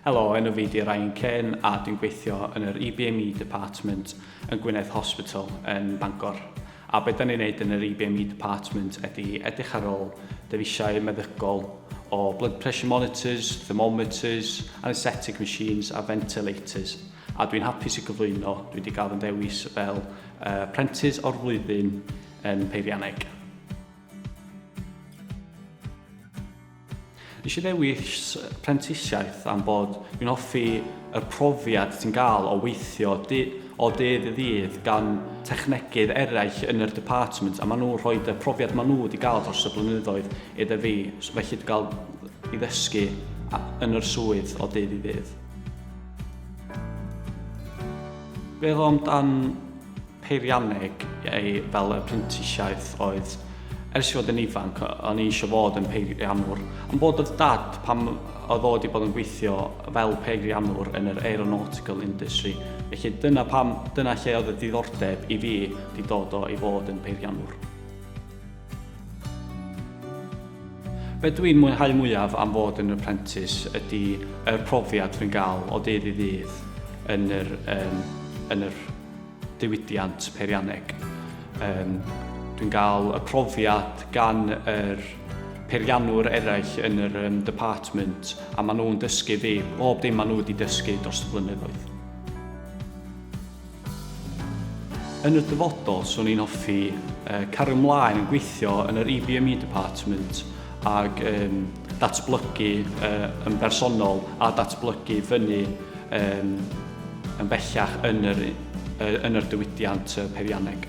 Helo, enw fi di Ryan Cain a dwi'n gweithio yn yr EBME e Department yn Gwynedd Hospital yn Bangor. A beth da ni'n neud yn yr EBME e Department ydy edrych ar ôl dyfisiau meddygol o blood pressure monitors, thermometers, anaesthetic machines a ventilators. A dwi'n hapus i gyflwyno, dwi wedi cael fy ddewis fel uh, prentis o'r flwyddyn yn Peirianeg. Nes i ddewis prentisiaeth am bod fi'n hoffi yr profiad ti'n gael o weithio o dydd i ddydd gan technegydd eraill yn yr department a maen nhw rhoid y profiad maen nhw wedi gael dros y blynyddoedd iddo fi felly dwi'n cael i ddysgu yn yr swydd o dydd i ddydd. Beth am dan peirianneg ei fel y prentisiaeth oedd ers i fod yn ifanc o'n i eisiau fod yn peiriannwr ond bod oedd dad pam oedd o wedi bod yn gweithio fel peiriannwr yn yr aeronautical industry felly dyna pam dyna lle oedd y diddordeb i fi wedi dod o i fod yn peiriannwr. Be dwi'n mwynhau mwyaf am fod yn apprentice ydi yr profiad dwi'n gael o ddydd i ddydd yn yr yym yn yr diwydiant peirianneg. Yym dwi'n gael y profiad gan yr peiriannwr eraill yn yr yym department a maen nhw'n dysgu fi bob dim maen nhw wedi dysgu dros y blynyddoedd. Yn y dyfodol, swn i'n hoffi cario mlaen yn gweithio yn yr EBME department ag um, datblygu uh, yn bersonol a datblygu fyny um, yn bellach yn yr, uh, yn yr diwydiant uh, peirianneg.